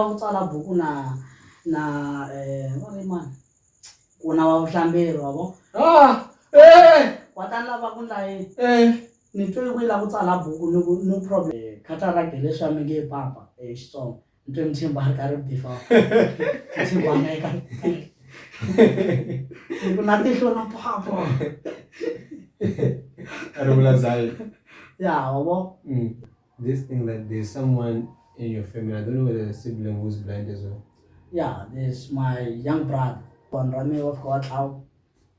ku tsala buku na na eh va ri mani ku na wa vuhlamberi wa vo ah eh wa ta lava ku ndla yini eh ni twe ku lava ku tsala buku ni ku no problem eh, cataract hi leswi a mi nge papa hi eh, xitsongo ni twe ni tshemba ri karhi bifa tshemba na eka ni ku na tihlo na papa a ri vula zayi ya wa vo mm. This thing that there's someone in your family, I don't know whether a sibling who's blind as well. Yeah, there's my young brother. One Rami of God out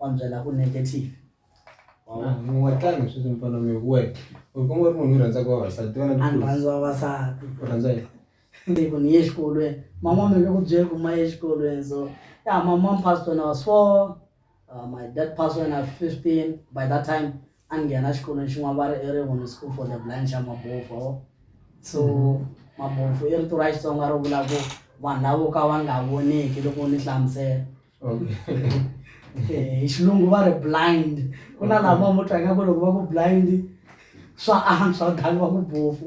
on the level negative. muwatani sweswi mfana mi we u kuma u ri munhu u rhandza ku vavasati vana A ni rhandzi vavasati. u rhandza yini Ni ku ni ye exikolweni. Mama mi nge ku byeli ku ma ye exikolweni so. Yeah, mama pastor na was four. uh, my dad passed when i was 15 by that time a ni nghena xikolweni xin'wana va ri i rin'wini school for the blind xa mabofu oh. so mm-hmm. mabofu i rito ra xitsonga ro vula ku vanhu lavo ka va nga voneki loko ni hlamusela eh, hi xilungu va ri blind ku na lama mo twa ingaku loko va ku blind swa antswa than va ku bofu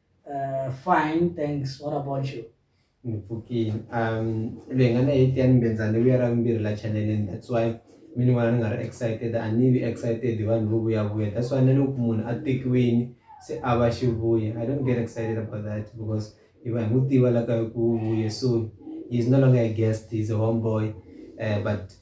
Uh, fine, thanks. What about you? ngipfukile um loyi nga na eight ya ni mbenzani vuya ra vumbirhi la chaneleni that's why mi ni vona ni nga ri excited a ni vi excited hi vanhu vo vuyavuya that's why na loko munhu a tekiwini se a va xivuya i don't get excited about that because hi va hi n'wi tiva la ka ku vuye so he's no longer a guest he's a home boy uh, eh, but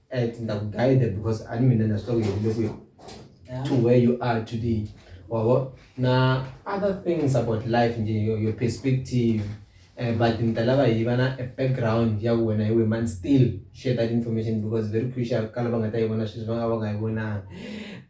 at ndakuguide because ani mina na swi tiva ku yerile kwihi Yeah. to where you are today wabo na other things about life nje your, your perspective uh, but nitalava hi va na a background ya ku wena hi we man still share that information because very crucial ka lava nga ta yi vona sweswi va nga va nga yi vonanga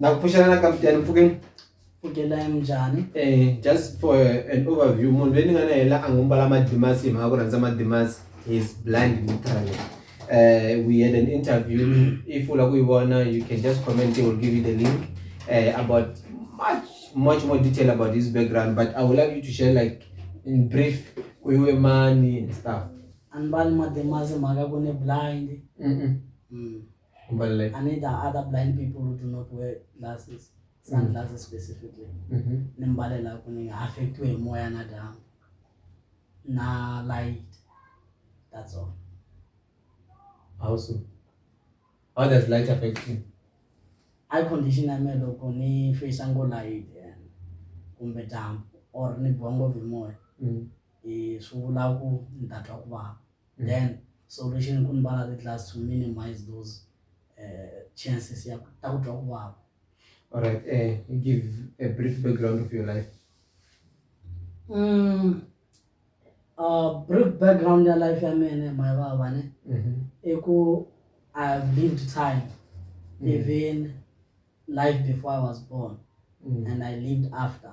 Na ku pfuxela na ka mutiyani mpfhukeni. Pfukela ya njhani? Eh just for an overview munhu loyi ni nga na yena a ngo mbala madimasi hi mhaka ku rhandza madimasi is blind literally. Uh, we had an interview if u lava ku yi vona you can just comment they will give you the link uh, about much much more detail about his background but I would like you to share like in brief ku iwe mani and stuff. Anibali madimasi mhaka ku ni blind. Mm -mm. Mm. But like, and it are other blind people who do not wear glasses, sunglasses mm. specifically. Mm-hmm. Nimbalela kuni affect we moya na down. Na light. That's all. How so? How does light affect you? I condition ya melo kuni face ango light and kumbe damp or ni bongo vimoya. Mm. Eh, so laku ndatwa kuba. then solution ku ni va na ti-class to minimize those uh, chances ya ta ku twa ku vava all right uh, give a brief background of your life mm, uh, brief background ya life ya mene my vava ne mm -hmm. i ku i have lived time mm. even life before i was born mm. and i lived after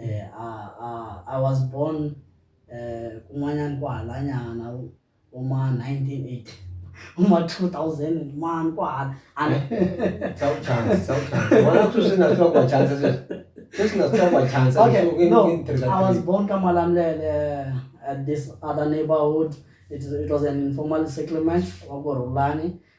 eh, a, a, I was born eh, kun'wanyana ku halanyana uma 1980 uma 2000 mani ku hala okay, no, I was born Kamalamlele at this other neighborhood. It, it was an informal settlement, Waborulani.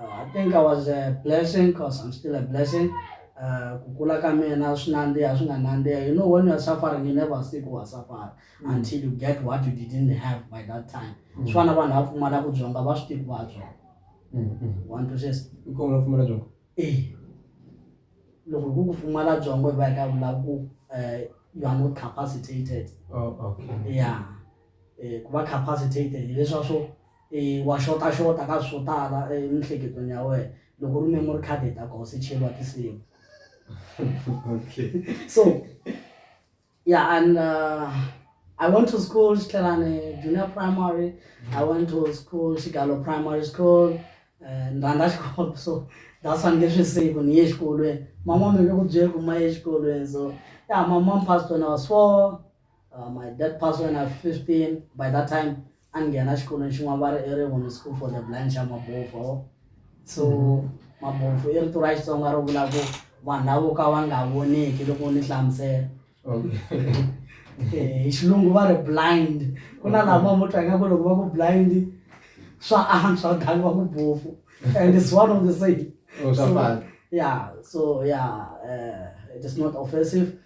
Uh, I think I was a blessing because I'm still a blessing. Uh, ku kula ka mina swi nandziha swi nga nandziha you know when you're suffering you never see ku wa suffer mm. until you get what you didn't have by that time mm. swi fana vanhu va pfumala ku byonga va swi tivi va byonga mm, mm. one to six nkomo pfumala byonga e loko ku ku pfumala byongo hi va hi ka vula ku um you are not capacitated oh, okay. yeah um ku va capacitated hileswa swo e wa xota xota ka swo tala emihleketweni ya wena loko ri memory card hi ta koho se cheriwa tinsimu okay so yeah and uh, I went to school Xitlhelane junior primary I went to school Xigalo primary school eh, ni rhandza xikolo so that's why ni nge swi siku ni ye exikolweni mama mi nge ku byeli ku ma ye exikolweni so ya mama mi passed when I was four Uh, my dad passed when I was 15. By that time, angena xikolweni xin'wana va ri i rin'wini school for the blind xa mabofu oh. so mm-hmm. mabofu i rito ra xitsonga ro vula ku vanhu lavo ka va nga voneki loko ni hlamusela eh, hi xilungu va ri blind ku na lama mo twa ingaku loko va ku blind swa antswa than va ku bofu and it's one of the same oh, so, yeah so yeah uh, it is not offensive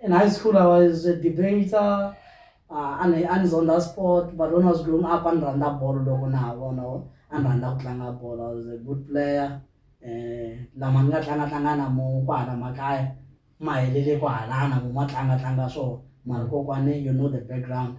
In high school, I was a debater, uh, and I was on that sport. But when I was growing up, I ran that ball, logo na bono, I ran that tlanga ball. I was a good player. Eh, la manga tlanga tlanga na mo kwa na makaya, maelele kwa na mo matlanga tlanga so. Marco kwane, you know the background.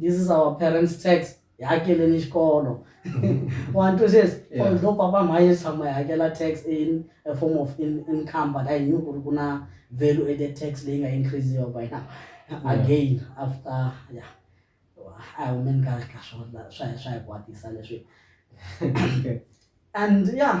this is our parents tax hi hakeleni xikolo one two says Yeah. although papa mhaye tshama hi hakela tax in a form of in, income but i knew ku ri ku na value added tax leyi nga increasiwa by now again after yeah a hi humeni ka ka swona swa hi swa hi kwatisa leswi Okay. and yeah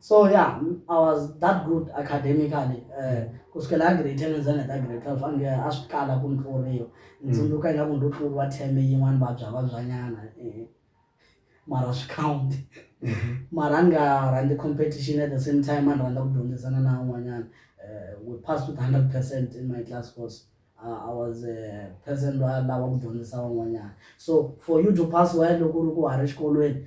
so yeah i was that good academically eh, kusukela a grade ten ndzana ta grade twelve ange a swi kala ku ni tluriwa ni mm. tsundzuka ingaku ndo tluriwa theme yin'wana vabyavabyanyana eh, mara swi count mm-hmm. mara a ni nga rhandzi competition at the same time a ni rhandza ku dyondzisana na un'wanyana eh, we passed with hundred percent in my class course uh, i was a person loyi a lava ku dyondzisa van'wanyana so for you to pass well loko u ri ku ha ri xikolweni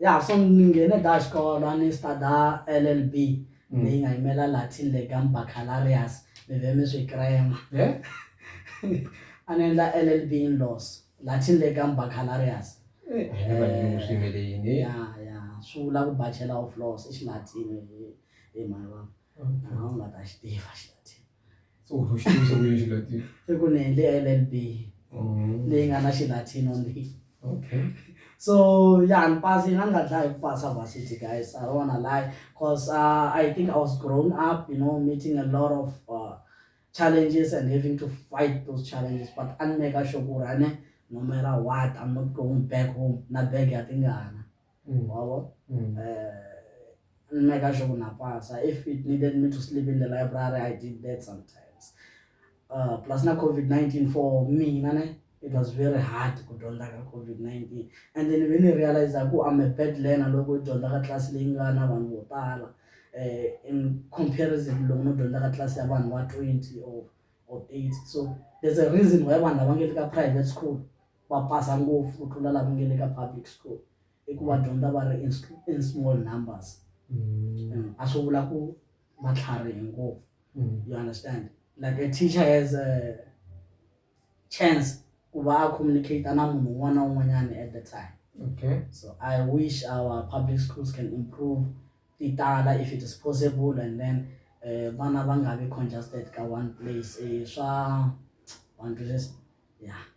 ya so ni nghene da xikolo a ni studa LLB Mm. leyi nga yimela Latin Legum Baccalaureus mi ve mi swi krema he a ni endla LLB in laws Latin Legum Baccalaureus Eh, a hi nge vanyimu swi yimele yini ya ya swi vula ku bachelor of laws i xilatini hi hi mhani wa a wu nga ta xi tiva xilatini so u to xitulu xa kuyini xilatino i ku ni endle llb leyi nga na xilatino ni okay so ya ni pasi na ni nga dlaya hi ku pasa varsity guys i don't wanna lie cause uh, i think i was grown up you know meeting a lot of uh, challenges and having to fight those challenges but a ni meka sure ku ri ane no matter what i'm not going back home na bag ya tingana mm. wabo mm. uh, mme ka sho kunapasa if it needed me to sleep in the library i did that sometimes uh, plus na covid-19 for mina ne it was very hard ku dyondza ka covid-19 and then ve ni realize ku am a bad learner loko dyondza ka tlasi leyi nga na vanhu vo tala um in comparison loko no dyondza ka tlasi ya vanhu va twenty or or eight so there's a reason why vanhu lava nge le ka private school va pasa ngopfu ku tlula lava nga le ka public school hi ku va dyondza va ri in small numbers mm. a swi vula ku va tlharihe ngopfu mm. you understand like a teacher has a chance ku va a communicate na munhu un'wana na un'wanyana at the time okay so i wish our public schools can improve ti tala if it is possible and then eh, vana va nga vi congested ka one place eh, swa one place yeah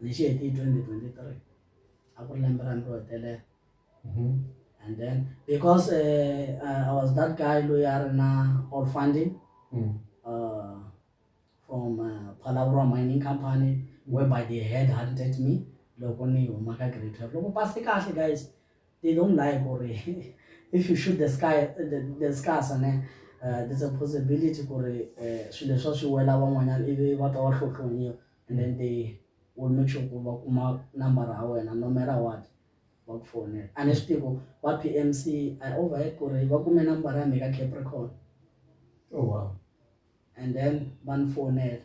lexi heti hi 2023 a ku ri lembe ra ntirho telele mhm. and then because uh, uh, i was that guy loyi a ri na all funding mm. uh, from uh, phalawurwa mining company whereby they had hunted me loko ni huma ka grade twelve loko pase kahle guys they don't like ku ri if you shoot the sky the, the scars ne uh, there's a possibility ku ri uh, swilo leswa swi wela van'wanyana ivi va ta va hlohlonyiwa and then they will make sure ku va kuma nambara ya wena no matter what va ku fonela a ni swi tivi ku va PMC I overheard ku ri va kume nambara ya mina ka Capricorn oh wow and then va ni fonela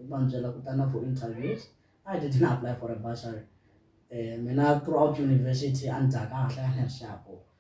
va ni byela ku ta na for interviews I didn't apply for a bursary um mina throughout university a ni dya kahle a ni ri xapu.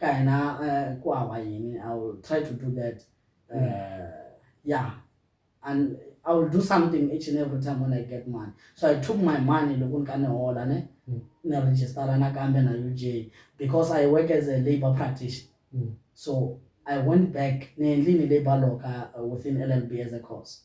ka yena eh, ku hava yini i will try to do that uh, yeah and i will do something each and every time when i get money so i took my money loko ni ka ni hola ne Mm. ni registara nakambe na uj because i work as a labour practitioner Mm. so i went back ni endlini labour law ka uh, within llb as a course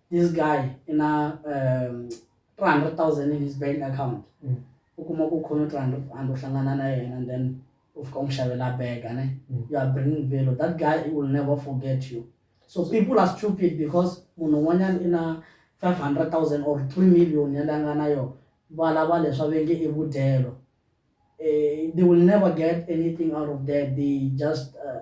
this guy i na um three hundred thousand in his bank account mm. u kuma ku khome three hundred rand u hlangana na yena and then u fika u n'wi xavela bega ne mm. you are bringing value that guy will never forget you so people are stupid because munhu un'wanyana i na five hundred thousand or three million ya leyi a nga na yona va lava leswi a ve nge i vudyelo eh, they will never get anything out of that they just uh,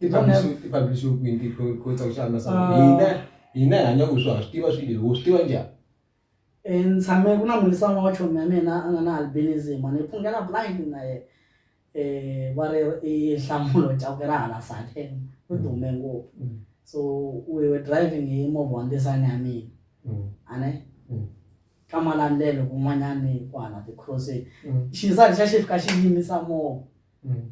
I publish-iwile i publish-iwe kwini ti kotsa ku xana so hina hina hi hanya ku swa swi tiva swilo leswi wo swi tiva njhani. Ni tshame ku na mulisa wun'we wa chomi ya mina a nga na albinism a ni phungela blind na ye va ri i nhlamulo chauke ra hala side ri dume ngopfu so we were driving hi movha wa ndzisana ya mina a ne ka malandlelo kun'wanyani kwala ti-cross-ini xindzani xa xi fika xi yimisa movha. Mm.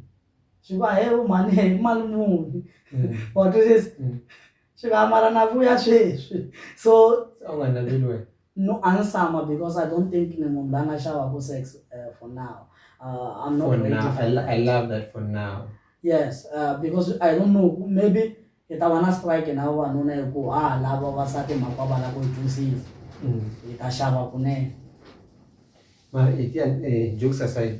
swi va he u mhani he mali muni Mm. wa twisisa Mm. swi va mara na vuya sweswi so Se a wu nga naveli wena no ansama because i don't think ni munhu la nga xavaku sex uh, for now uh, i'm not for ready now for I, lo- that. I love that for now yes uh, because i don't know maybe hi ta va na strike na vavanuna hi ku ha lava vavasati mhaka va lava ku yi twisisa mm. hi ta xava kunene mara etiya eh, jokes aside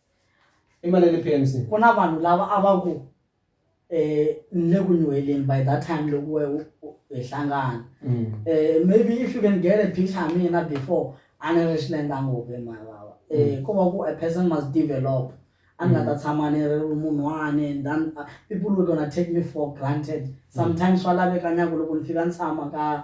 i mali ya le P_M_C ku na vanhu lava a va ku ni le ku nyuheleni by that time loko we u hi hlangana maybe if you can get a picture ya mina before a ni ri xilendza ngopfu hi mhani vava ko va ku a person must develop a ni nga ta tshama ni ri munhu wa ni then people will gonna take me for granted sometimes swa laveka na ku loko ni fika ni tshama ka.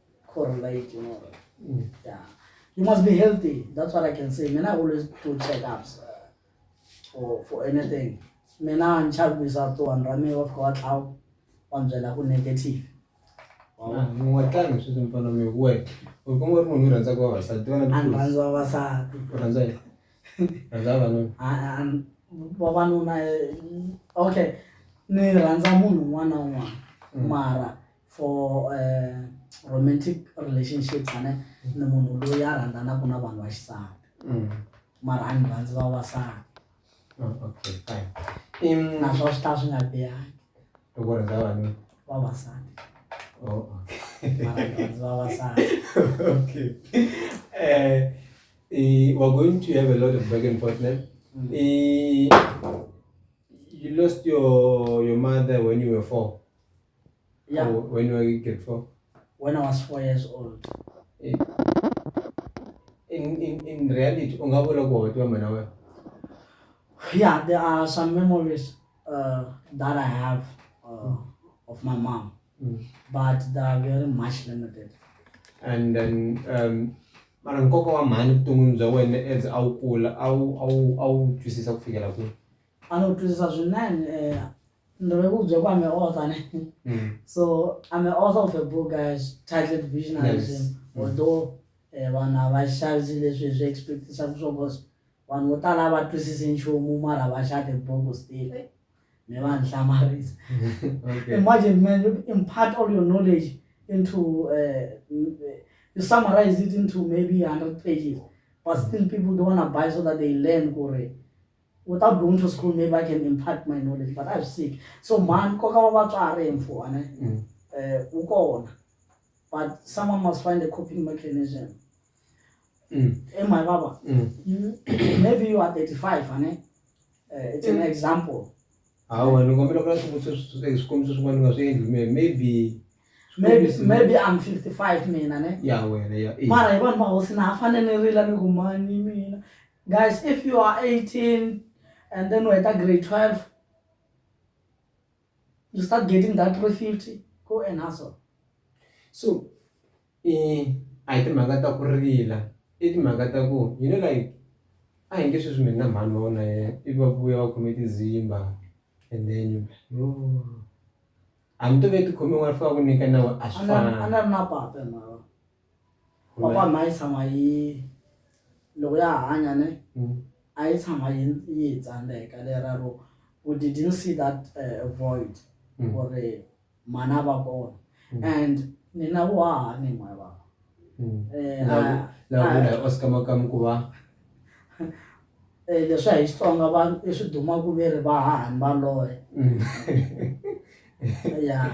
correlate you know mm. yeah you must be healthy that's what i can say mina i always do check-ups uh, for for anything mina ni chavisa to vanhu ra mina va fika va tlawa va ni byela ku negative n'watanga swi swi mpfana mi we u kuma ri munhu u rhandza ku vavasati vana a ni rhandza vavasati u rhandza yi rhandza vavanuna vavanuna okay ni rhandza munhu un'wana na un'wana mm. mara for romantic relationship fane ni munhu loyi a rhandzanaka na vanhu va xisati mm. mara a ni rhandzi va vasati oh, okay fine naswona swi ta swi nga bihangi loko rhandza vanhu vavasati oh, vavasati okay eh uh, we're going to have a lot of back and forth now mm. uh, you lost your your mother when you were four Yeah. Oh, when you were in grade four? When I was four years old. Eh, in, in, in reality, yeah, there are some memories uh, that I have uh, mm. of my mom, mm. but they are very much limited. And then, um, mara nkoka wa mhani vuton'wini bya wena as a wu kula a wu a wu a wu twisisa ku fikela kwihi a ni wu twisisa swinene um eh, Ndo vhe vhu dzwa kwa me author ne. Mm. So I'm an author of a book uh, titled Visionarism. Yes. Mm. Although eh, vanhu havashazi leswi swi expectisa swo cause vanhu vo tala a va twisisi nchumu mara va xava tibuku still eh, mi va ni hlamarisa Okay. imagine man you impart all your knowledge into uh, you summarize it into maybe 100 pages but still people don't want to buy so that they learn kore Without going to school maybe I can impart my knowledge but a swi siki so mhani nkoka wa vatswari mfuane mm. eh, wu kona but someone must find a coping mechanism mm. e my baba mm. maybe you are 35 ane eh, it's an example hawa ni kombela ku la swikombiso swin'wana ni nga swi endli maybe maybe maybe i'm 55 mina ne ya wena ya mara hi vanhu va hosi na ha fane ni rila ni ku mani mina guys if you are 18 and then we're at grade 12 you start getting that 350 go and hustle so eh, a hi timhaka ta ku rila i timhaka ta ku you know like a hi nge sweswi mina mhani va wona ye ivi va vuya va khome tizimba and then yo hambi to ve tikhome n'wana fika ku nyika nawe a swi fana Kwakwa mhai tshama yi loko ya hanya ne mm. a yi tshama yi yi tsandeka lera ro we didn't see that uh, void mm. or uh, mana va kona mm. and nina vo haha ni mhai vava mm. eh, ah, lavula ah. oscar makamu ku va eh, leswi a hi xitsonga va i swi dumaku ve ri va hahani va loye mm. ya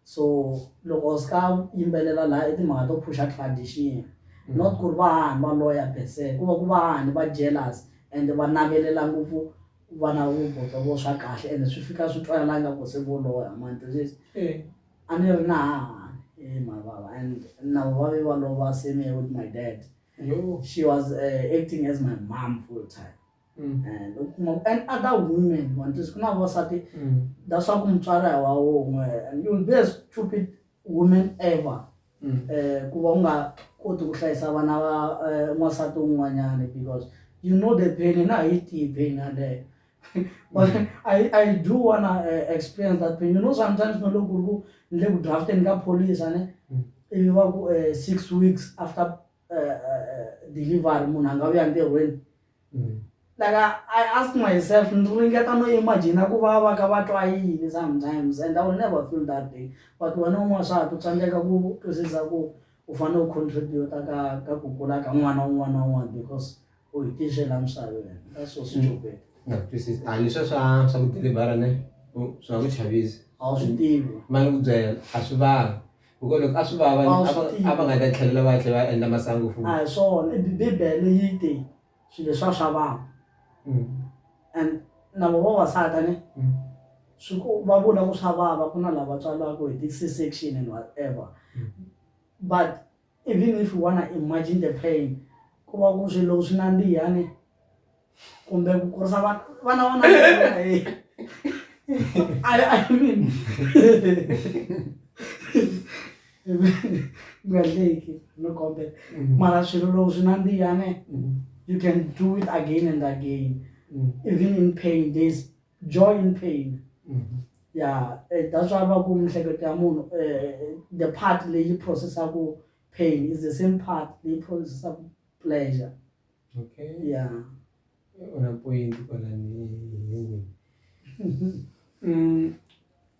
so loko ska yimbelela la i timhaka to phusha tradition mm. not ku ri va hahani va loya pese ku va ku va hahani va jealous and va navelela ngopfu vana vuboto vo swa kahle and swi fika swi twala nga ku se vo loya mantisisi eh. a ni ri na hahani e eh, mavava and na vavi va lova same with my dad she was uh, acting as my mom full time Mm. Eh, and other women want to kuna vosati mm. that's why kumtswara wa won'we and you'll be a stupid woman ever mm. eh, ku va u nga koti ku hlayisa vana va eh, n'wansati un'wanyana because you know the pain na hi tiyi pain yaleyo but mm. I, I do wanna uh, experience that pain you know sometimes no loko ku ni le ku drafteni ka police ne mm. ivi va ku uh, six weeks after uh, delivery munhu a nga vuya ntirhweni mm. like I, I ask myself ndzi ringeta no imagina ku va va ka va twa yini sometimes and I will never feel that day but wena un'wana swa ha ku tsandzeka ku twisisa ku u fanele u contributa ka ka ku kula ka n'wana un'wana na un'wana because u hi tixela misava wena ka swo swi mm. copeta nga twisisi a ni swa swa swa ku delivera ne swi nga ku chavisa a wu swi tivi ma ni ku byela a swi vanga hikuva loko a swi vava a va nga ta tlhelela va tlhe va endla masangu futi a hi swona bibele yi te swilo leswa swa vava mm. and na vo vavasati ne mm. swi ku va vula ku swa vava ku na lava tswalaka hi ti-c section and whatever but Even if you wanna imagine the pain ku va ku ri swilo loko swi nandziha ni kumbe ku kurisa vana vana va nandziha heyi I mean nga hleki no kombela mara swilo loko swi nandziha ne you can do it again and again even in pain there's joy in pain ya eh, that's why va ku mihleketo ya munhu eh, the part leyi processaku pain is the same part leyi processaku pleasure okay ya una point kwalani mm.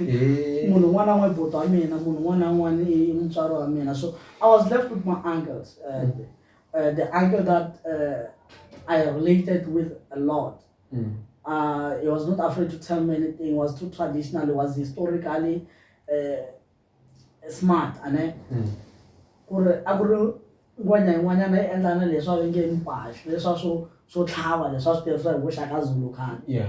Eh. munhu un'wana na un'wana buti wa mina munhu un'wana na un'wana i i mutswari wa mina so i was left with my uncles uh, the, uh, the uncle that uh, i related with a lot Mm. uh, he was not afraid to tell me anything he was too traditional he was historically uh, smart ane Mm. ku ri a ku ri ngwanya yin'wanyana yi endla na leswi va ve nge mipaxi leswa swo swo tlhava leswi va swi tirhisa hi vuxaka zulu khale Yeah.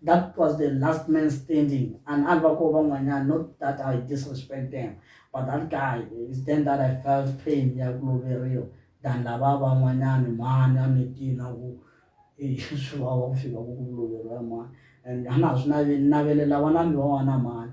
That was the last man standing and a va ko van'wanyana not that I disrespect them but that guy is then that I felt pain ya ku loveriwa than lava van'wanyana mhani a mi tina ku swi vava ku fika ku ku loveriwa mhani and a na ha swi naveli navelela vana mi va wana mhani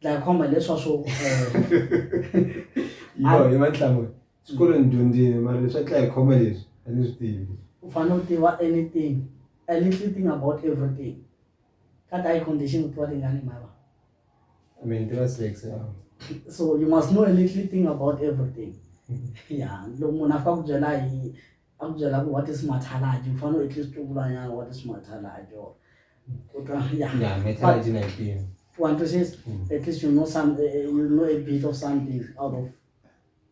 dlaya khomba hileswa swo yo hi matlhamuri swikolweni ni dyondzile mara leswi a dlaya khomba leswi a ni swi tivi u fanele u tiva anything a little thing about everything ka ta yi condition u tiva tingani mara I mean, tiva sex ya so you must know a little thing about everything ya loko munhu a fika ku byela hi a ku byela ku what is mathalagi u fanele at least u vulanyana what is mathalagi or u twa ya Yeah, metallurgy na yipini. wa twisisa Mm. at least you know some eh, eh, you know a bit of something out of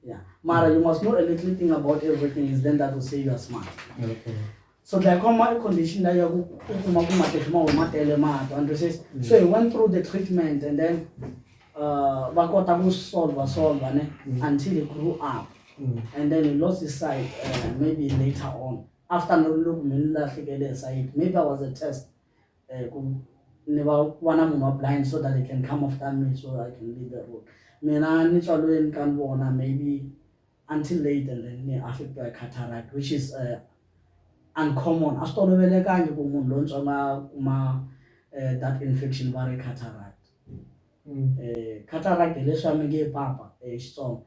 yeah mara you must know a little thing about everything is then that will say you are smart Okay. so glaucoma i condition leyi ya ku u kuma ku matihlo ma huma tele mahlo wa twisisa so he went through the treatment and then uh, va kota ku solva solva ne until he grew up mm. and then he lost his sight uh, maybe later on after loko mi ni lahlekele hi sight maybe i was a test uh, ku ni va vona munhu wa blind so that he can come after me so i can lead the road mina ni tswalweni ka ni vona maybe until late and then ni affect by cataract which is uh, uncommon a swi tolovelekangi ku munhu lontsongo a kuma uh, that infection va ri cataract mm. uh, cataract hi leswi a mi nge papa hi xitsongo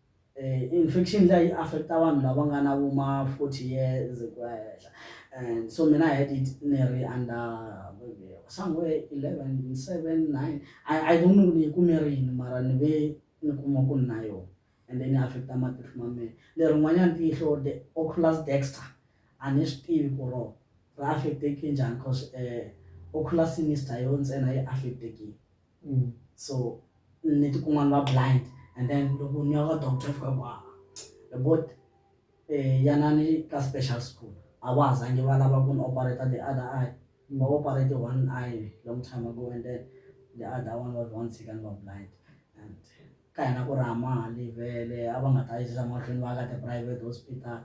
Infection liya yi affect vanhu lava nga na vo ma forty years ku ya henhla and so mina I had it ni ri under somewhere eleven, seven, nine I don't know ku ni yi kume rini mara ni ve ni kuma ku ni na yona and then yi affect-a matihlo ma mehe. Lerin'wanyani tihlo the oculus dexter a ni swi tivi ku rona ri affect-eke njhani cause oculus yi ni size yona ntsena a yi affect-eki. Mm. so ni tikuma ni va blind and then loko ni ya ka doctor ni fika ku a bot um yanani ka special school a va ha zange va lava ku ni operator the other eye va operate one eye long time ago and then the other one was one second va blind and ka hina ku ri a ma ha livele a va nga ta yisa mahlweni va ka ti-private hospital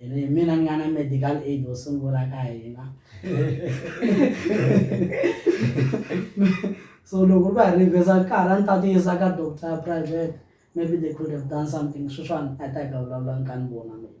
ene hi mina ni nga na medical aid wo sungula ka hina so loko va hi rivheza nkarhi a ni ta ti yisa ka doctor ya private maybe they could have done something sweswiwani a ta hi ka vulavula ni ka ni vona mina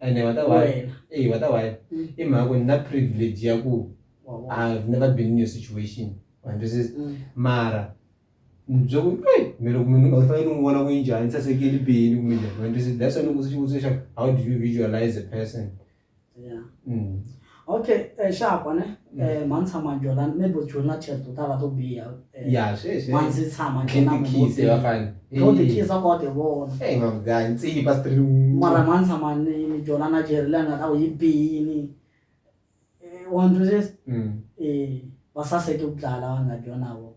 and what a why hey what a why mm. i mhaka ku ni na privilege ya ku i've never been in your situation wandisisa mm. mara byo ku hey mina ku munhu u fanele n'wi vona ku njhani sasekile bini ku mina wandisisa that's why ni ku swi xivutiso xa how do you visualize a person yeah mm. okay eh, xa kwa ne mm. eh, mani tshama jona maybe u jona chat to tala to biha eh, ya sweswi mani ndzi tshama jona mutsi yo tikisa kwa ti vona hey mama guy ntsi pa street mara mani tshama ni jona na jeri la nga ta ku yi bini eh, wa ndzi eh ba sa se ke ku dlala na jona wo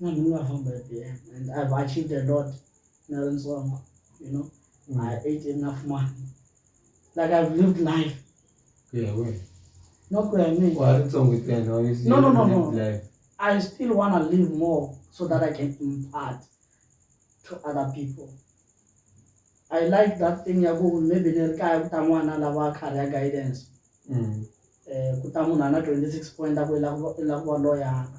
na mina nga famba hi byona and I've achieved a lot na ri ntsongo you know mm. I ate enough money like I've lived life ku ya wena no ku ya mina wa ri ntsongo ntsena obviously no no no no life. I still wanna live more so that I can impart to other people I like that thing ya ku maybe ni ri kaya ku ta n'wana lava career guidance mm. eh ku ta munhu a na twenty six point a ku i la ku va loyana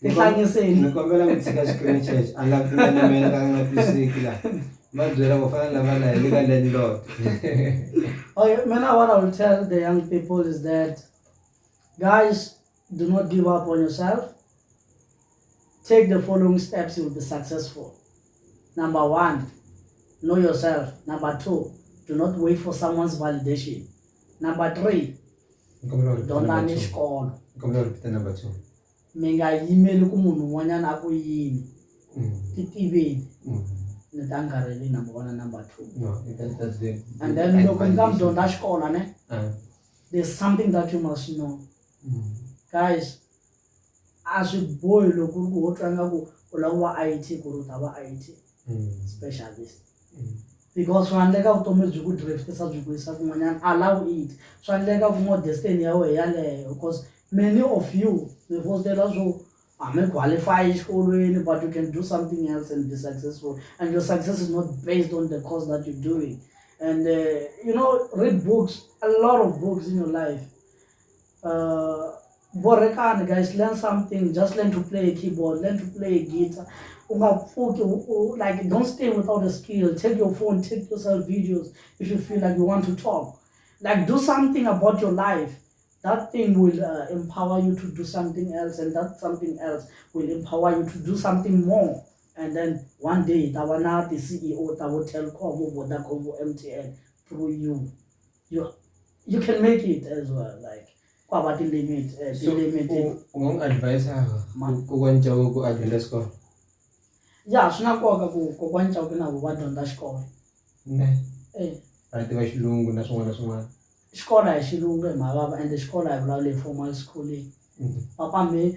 tihlangiseni ni kombela mi tshika xikimi xexo a nga pfumeli mina ka nga twisiki la va byela ku fana lava la le ka landlord okay mina what i will tell the young people is that guys do not give up on yourself take the following steps you will be successful number one know yourself number two do not wait for someone's validation number three dyondzani xikolo mi nga yimeli ku munhu un'wanyana a ku yini mm. ti tiveni mm. ni ta nkarheli number one na number two and then loko ni ka mi dyondza xikolo ne there's something that you must know mm. guys a swi bohi loko ku ri ku ho twa nga ku u lava ku va I_T ku ri u ta va I_T mm. specialist mm. because swa endleka vutomi byi ku driftisa byi ku yisa kun'wanyana allow it swa endleka ku ngo destiny ya wena yaleyo because many of you mi fostela swo hambi qualify exikolweni but you can do something else and be successful and your success is not based on the course that you're doing and uh, you know read books a lot of books in your life uh, borekani guys learn something just learn to play a keyboard learn to play a guitar ungapfuki like don't stay without a skill take your phone take yourself videos if you feel like you want to talk like do something about your life that thing will uh, empower you to do something else and that something else will empower you to do something more and then one day tavana the ceo tavo telcom vodacom mtn through you you you can make it as well like kwaba ti limit eh, ti limit ngong advice ha ku kwanja ku advenda score ya swi na nkoka ku ku kwanja ku na ku va dyondza xikolo ne eh va tiva xilungu na swin'wana na swin'wana xikolo hi xilungu hi mavava and xikolo hi vulavula hi formal schooling mm-hmm. papa me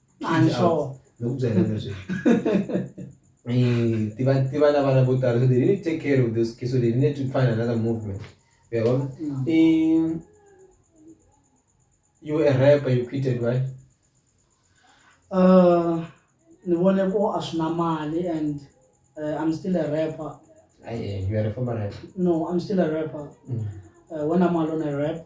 a ni sure ni ku byela leswi eh, tiva tiva na vana vo tala so they didn't take care of those kids so they needed to find another movement uyabo mm. eh, you were a rapper you quitted why uh ni vone ko a swi na mali and uh, i'm still a rapper Aye, you are a former rapper no i'm still a rapper mm. uh, when i'm alone i rap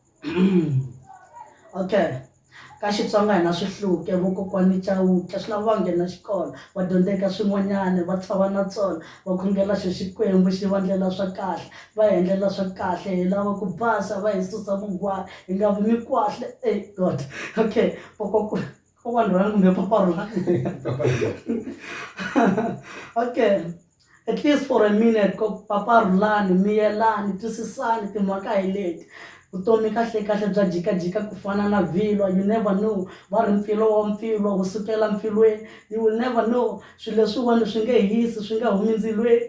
okay ka Xitsonga hi na swihluke vokokwani Chauke swi lava va nghena xikolo va dyondzeka swin'wanyana va tshova na tsona va khongela xo Xikwembu xi va endlela swa kahle va hi endlela swa kahle hi lava ku basa va hi susa vungwahi hi nga vi ni kwahle ey God okay . kok wanderan ngambil paper lah oke at least for a minute kok paper lani mi yelani twisisani timhaka hi leti vutomi kahlekahle bya jikajika ku fana na vhilwa you never know va ri mpfilo wa mpfilwa wu sukela mpfilweni you will never know swilo leswiwani swi nge hisi swi nga humi ndzilweni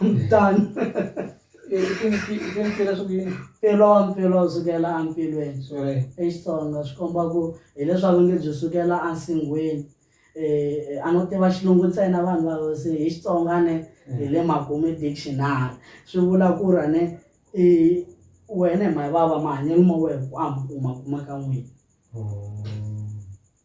I'm done. I tintsila swa ku yini? Mpfilwa-mpfilwa wu sukela empfilweni. Sorry. I Xitsonga swi komba ku hileswaku nge byi sukela ensinghwini. A no tiva xilungu ntsena vanhu va ku se hi Xitsonga a ne hi le makumu dictionary. Swi vula ku ri a ne i wena hi mhani vava mahanyelo ma wehe ku a mi kuma kuma ka n'wina.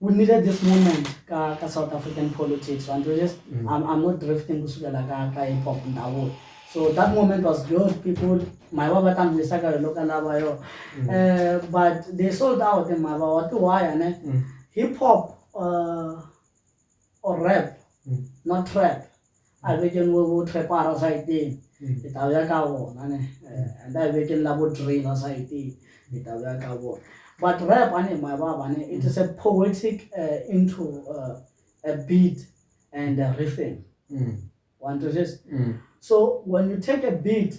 we needed this moment ka, ka south african politics and we just mm. I'm, i'm not drifting kusukela ka, ka hip hop ndawo so that moment was good people my baba tambisa ka loka lava yo mm. uh, but they sold out and my baba to why ne mm. hip hop uh, or rap mm. not trap a vekeng bo bo trepara saeteng e tla ya ka bona ne eh, and a vekeng la bo trailer saeteng e tla ya ka bona but rap ane my baba ne it is a poetic uh, into uh, a beat and a rhythm mm. one to just mm. so when you take a beat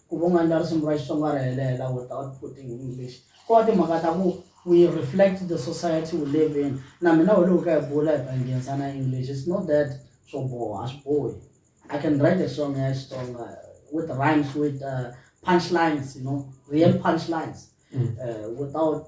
Ku va u nga ndlari simu ra Xitsonga ri helela without putting English. Ko va timhaka ta ku we reflect the society we live in. Na mina we loko hi kha hi bula hi nghenisa na English. It's not that swo boha, a swi bohi. I can write a song ya Xitsonga with rhymes, with punch lines, you know, real punch lines without.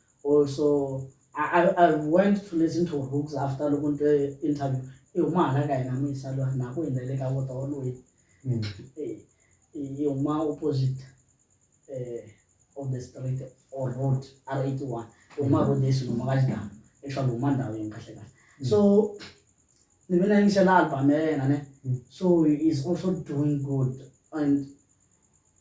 Also I I I went to listen to Rooks after loko ni twe interview i huma hala ka hina muyisa lwa na ku hina le ka vota wa loyi mm. eh, i huma opposite eh, of the street or road r eighty one i huma road esi luma ka xidana actually huma ndhawu yini kahle kahle mm. so ni ve na yingisela album ya yena ne mm. so is also doing good and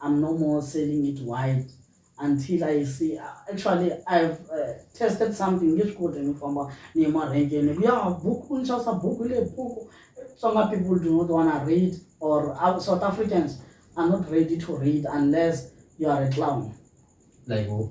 I'm no more selling it wide until I see actually I've uh, tested something nge swi koti ni famba ni ye marhenkeni ku ya buku ni xavisa buku hi le buku tsonga people do not wanna read or uh, south africans are not ready to read unless you are a clown like who?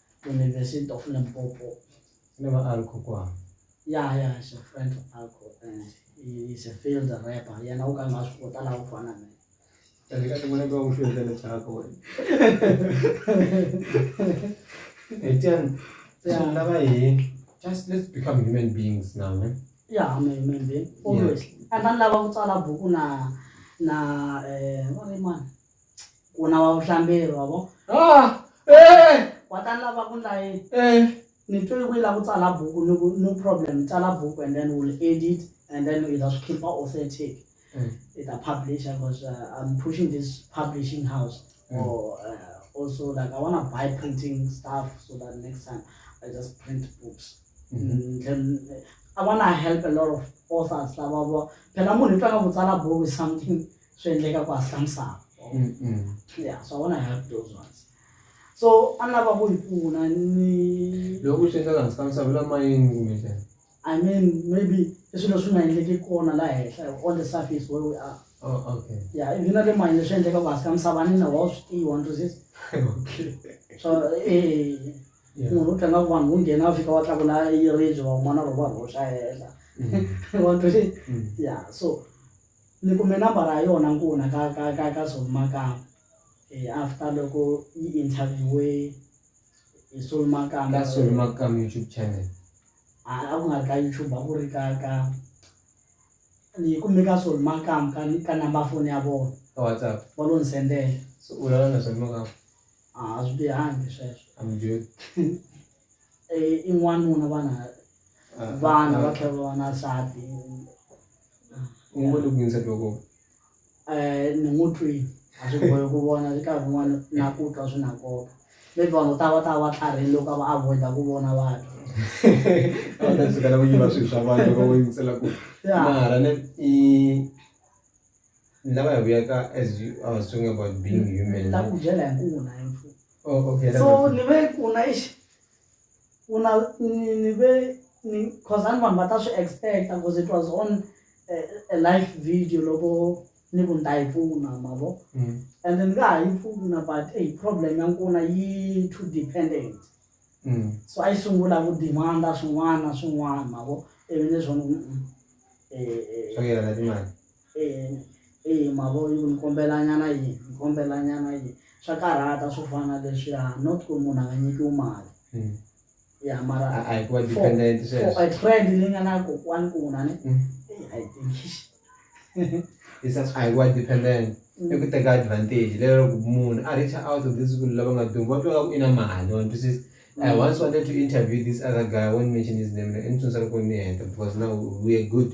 University of Limpopo. Ni va Alco kwa. Yeah, yeah, she's a friend of Alco and he's a field rapper. Yena u ka nga swi kota laha u fana na yena. Eka tin'wana ku va u field le chako wena. Etian, swi lava hi just let's become human beings now, ne? Yeah, I'm a human being. Always. And then lava ku tsala buku na na eh, what am I? ku na wa vuhlamberi wa vo Ah, eh, wa ta lava ku ndla yini eh. ni twe yi la ku tsala buku ni ku no problem tsala buku and then we'll edit and then hi ta swi khipha authentic Mm. hi ta publisha because uh, i'm pushing this publishing house Mm. or uh, also like i want to buy printing stuff so that next time i just print books Mhm. Mm, then uh, i want to help a lot of authors lava va phela munhu i twa nga ku tsala buku is something swi endleka ku hasla misava ya swa vona ya those ones so a ni lava ku yi pfuna ni loko swi endleka hansi ka misava la mayini kumbe njhani i mean maybe i swilo swi nga endleki kona laha henhla on the surface where we are oh, okay ya ivi na le mayini leswi endleka ku hansi ka misava ni na wa swi tiva ni twisisa okay so eh munhu u tlanga ku vanhu vo nghena a fika wa tlakula yiribye van'wana loko va rhoxa hehla mm. wa twisisa mm. ya so Ni kume nambara ya yona nkuna ka ka ka ka Sol Makamu after loko yi interview-we hi Sol Makamu. Ka Sol Makamu YouTube channel. A a ku nga ri ka YouTube a ku ri ka ka ni yi kume ka Sol Makamu ka ka number foni ya vona. Ka WhatsApp. Va lo ni sendela. Se u vulavula na Sol Makamu? A swi bihangi sweswo. A mi dyohi? I n'wanuna vana. vana va tlhela va va na nsati u ngo le ku yinisa twa kona um ni n'wi twile a swi bohi ku vona swi karhi kun'wana na ku twa swi na nkoka maybe vanhu vo tala va ta va va tlharhile loko a va avoid-a ku vona vanhu a va ta sukela ku yiva swilo swa vanhu loko vo yingisela ku ya mara ne i ni lava ya vuyaka as you I was talking about being human ta ku byela hi nkuna hi mfu oh okay so ni ve nkuna exi u na ni ni ve ni cause a ni vanhu va ta swi expect-a cause it was on a live video loko ni ku ni ta yi pfuna ma vo mm. and ni nga ha yi pfuna but a problem ya nkuna yi too dependent mm. so a yi sungula ku demand-a swin'wana na swin'wana ma vo ivi leswo um eh, eh, swa yelana timali eya ma vo yi ni kombela nyana yini ni kombela nyana yini swa karhata swo fana na leswiya not ku munhu a nga nyikiwi mali ya mara trend leyi nga na kokwani ku munhu a ni a yi tengisi a hi wa dependent i ku teka advantage lero ku munhu a reach out of this swilo lava nga duma va twa ku i na mali wa ni twisisa I once wanted to interview this other guy I won't mention his name ni tsundzuka loko ni heta because now we are good.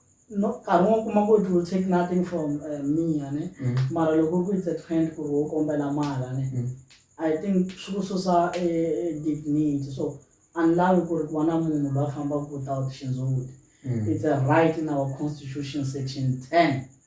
no nkarhi wo kuma ku it will take nothing from uh, me ne mm. mara loko ku it's a trend ku ri wo kombela mala ne mm. i think swi ku susa e, e dignity so anlavi ku ri ku va na munhu loyi a fambaka without xindzhuti mm. it's a right in our constitution section ten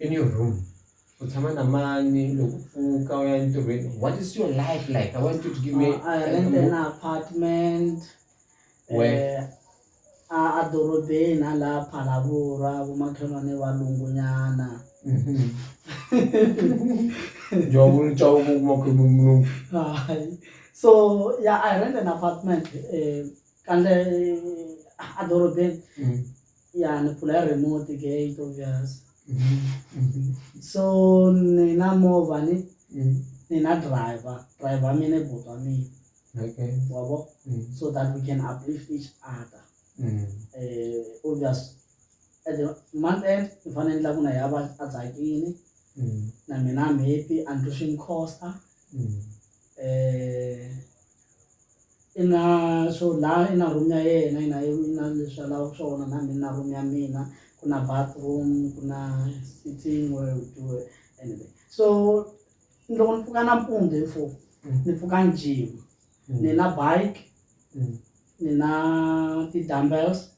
in your room u tshama na mani loko u pfuka u ya entirhweni what is your life like i want you to give me uh, I rent an apartment where uh, a dorobeni a laha phalavura vomakhelwane valungunyana jovulujawukumakhemumlungu so ya i rent an apartment um eh, kandle eh, a dorobeni mm. ya ni phula ya remote gate obvious so ni na movha ni ni na driver driver wa mina i buti wa mina okay wa vo so that we can uplift each other um obvious at the month end ni fanele endla ku na ya va a tsakile na mina I'm happy and to swim costa. um i na swo la i na room ya yena i na i na leswi a lavaka swona na mina ni na room ya mina ku na bathroom ku na sitting where u do anyway so loko ni pfuka nampundzu hi four ni pfuka ni jima ni na bike ni na ti-dumbbells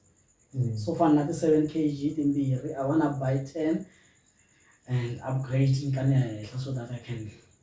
so fana na ti-seven k g timbirhi i wanna buy ten and upgrade ni ka ni ya henhla so that i can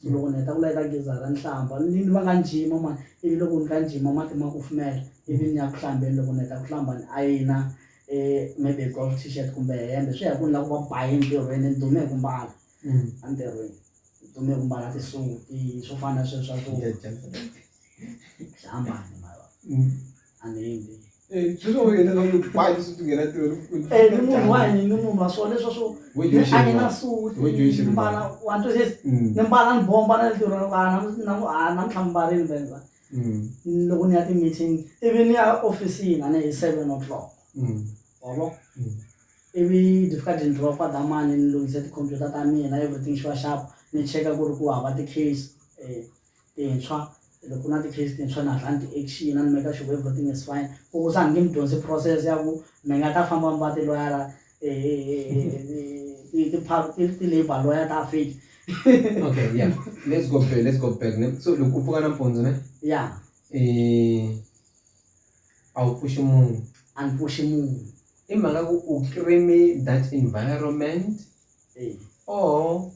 Ndzi loko ni heta ku la eka geza ra nhlamba ni ni va ka njima ma ivi loko ni ka njima mati ma kufumela ivi ni ya ku hlambeni loko ni heta ku hlamba ni ayina maybe golf t-shirt kumbe hembe swi ya hi ku ni lava ku va ba yini ntirhweni ni dume hi ku mbala a ntirhweni ni dume hi ku mbala ti-suit-i swo fana na sweswo swa ku xiambalo mavona. anele eh, eh, ni munhu wa hini ni munhu wa swo leswo swo a ni na suti ni mbala wa ntwa sesi mm. ni mbala ni bomba na lero namuntlha mbarini benza mm. loko ni ya ti-meeting ivi ni ya ofisini a ni hi seven o'clock mm. wabo ivi ndifika ndzi ndlula kwa damani ni lunghise tikhompyuta ta mina everything xi va xapo ni cheka ku ri ku hava ti-case um tintshwa loko ku na ti-case tintshwa na hatla ni ti-action a ni make sure everything is fine ku ku sa nge mi dyondzi process ya ku mi nga ta famba mi va tiloyara ti-labor lawyer ta fake okay yeah let's go back let's go back so loko u pfuka nampundzu ne ya um a wu pfuxi munhu a ni pfuxi munhu i mhaka ku u creame that environment or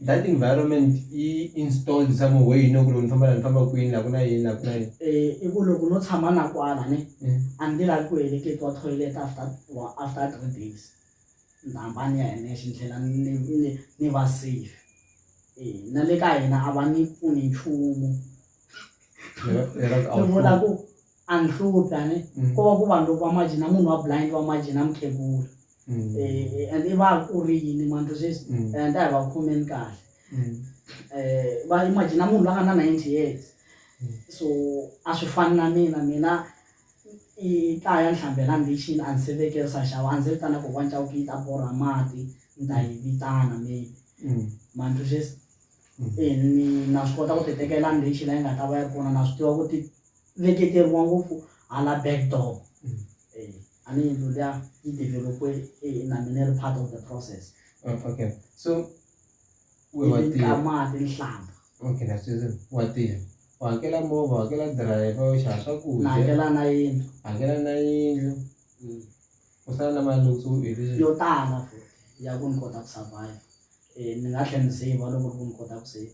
That environment yi installed some way you know ku loko ni famba la ni famba kwini la ku na yini la ku na yini eh i ku loko no tshama na kwala ne mm. a ni lavi ku heleketiwa toilet after after three days ni ta hamba ni ya hi nexe ni tlhela ni va safe eh na le ka hina a va ni pfuni nchumu ni vona ku andihluphi ani mm. ko va ku vanhu loko va maji na munhu wa blind wa maji na mukheguri mm. eh, and i va ku ri yini manto sweswi mm. and a hi va khomeni kahle mm. eh, va imaji na munhu la nga na ninety years mm. so a swi fani na mina mina i kaya ni hlambela ndichini a ni se vekerisa xava a ni se vitana ko wanca ku yi ta borha mati ni ta yi vitana maybe mm. manto sweswi mm. eh, na swi kota ku ti tekela ndichi la yi nga ta va yi ri kona na swi tiva ku ti veketeriwa ngopfu hala backdoor mm. eh, a ni yindlu liya yi developwe eh, na mina ri part of the process oh, okay so kamati nhlamba okay na sweswi wa tirha u hakela movha u hakela driver u xava swakudya hakela na yindlu hakela na yindlu mm. u sala na mali loko u herile yo tala futhi ya ku ni kota ku survive um ni nga tlhela ni save loko ri ku ni kota ku save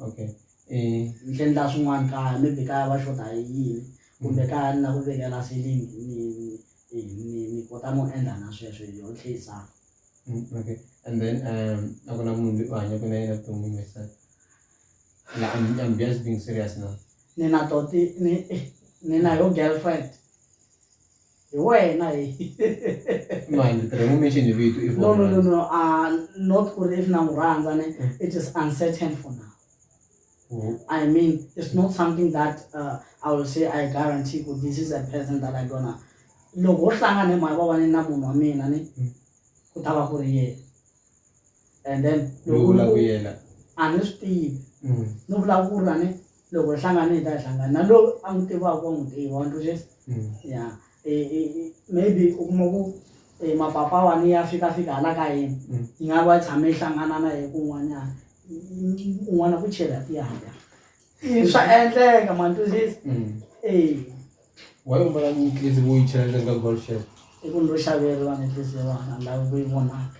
okay um ni endla swin'wana kaya maybe kaya va xota hi yini kumbe mm. kaya ni lava ku vekela ceiling ni ni ni ni kota no endla na sweswo hi yo tlheisana mm, okay and then um a ku na munhu loyi u hanyaka na yena vuton'wini wesa la I'm, I'm just being serious now ni na toti ni ni na yo girlfriend hi wena hi mani tirhe mu mention hi vito if no no no no uh not ku ri if na n'wi rhandza ne mm. it is uncertain for now mm. i mean it's not something that uh, i will say i guarantee ku this is a person that i gonna loko wo hlangana hi mhaka va vane na munhu wa mina ni mm. ku ta va ku ri yena and then loko a ni swi tivi ni vulavula ni loko hlangane hi ta hlangana na lowu a n'wi tivaka wa n'wi tiva wa ntwisisa mm. ya e, e, e, maybe u kuma ku mapapa wani ya fika fika hala ka yena mm. yi nga va tshame yi hlangana na hi kun'wanyana un'wana ku chela tiyaka swa endleka ma ntwisisa mm. e wa yi mbala ni tlisi vo yi chela ndzeni ka golf shop i ku ni ro xaveriwa ni tlisi yona lavi ku yi vonaka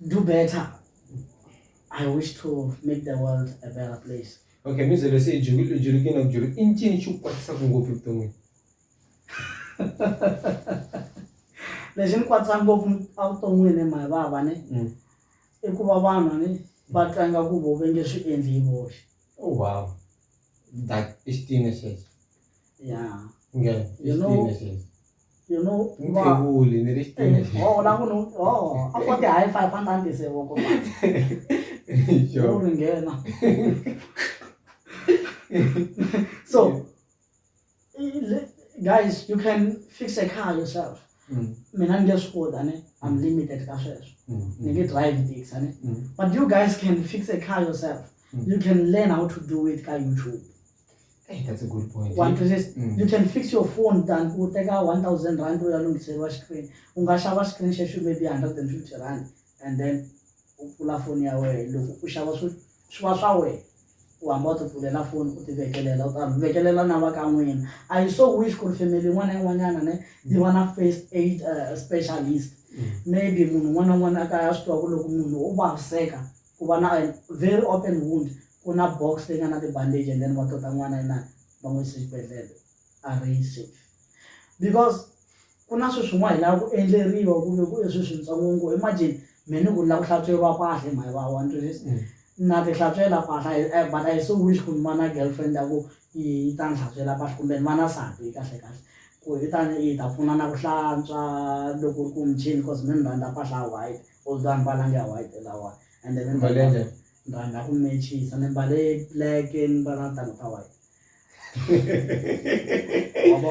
do better i wish to make the world a better place okay mizelo se ijulu ijulu kina kujulu inchini chukwatisa kungopi kutongi lexi ni kwatisa ngopfu evuton'wini hi mhaka vava ni mm. i ku va vanhu ni va tlanga ku vo va nge swi endli hi voxe oh, wow that is teenagers ya you know you know mutevuli ni ri oh la ku no oh a fo ti high five a nandi se wo ko yo ri ngena so guys you can fix a car yourself mm. mina ni nge swi koti ani i'm limited ka sweswo mm, mm. ni nge drive tax ani but you guys can fix a car yourself you can learn how to do it ka youtube Hey, that's a good point. One to six. Mm. You can fix your phone than u teka 1000 rand u ya lunghiseriwa screen. U nga xava screen xexo maybe 150 rand and then u pfula foni ya wena loko u xava swi swi va swa wena u hamba u ti pfulela foni u ti vekelela u ta vekelela na va ka n'wina i so wish ku ri family yin'wana na yin'wanyana ne yi va na first aid uh, specialist mm. maybe munhu un'wana na un'wana a kaya a swi tiva ku loko munhu u vaviseka ku va na very open wound ku na box leyi nga na ti-bandage and then va tota n'wana inani va n'wi yisa exibedhlele a ri yi safe because ku na sweswi n'wana hi lava ku endleriwa kumbe ku leswi swintsongo ngo imagine me ni ku lava ku hlantsweriwa pahla hi mhayi va one twenty six mm. na ti hlantswela pahla eh, but i so wish ku ni va na girlfriend ya ku yi ta ni hlantswela pahla kumbe ni va na sati kahle kahle ku hi tani yi ta pfuna na ku hlantswa loko ku michini cause mi ni rhandza pahla white Oldani mbala nge white lawa and then mbale nje ndanda ku matches and mbale black and mbala tanga ta white wabo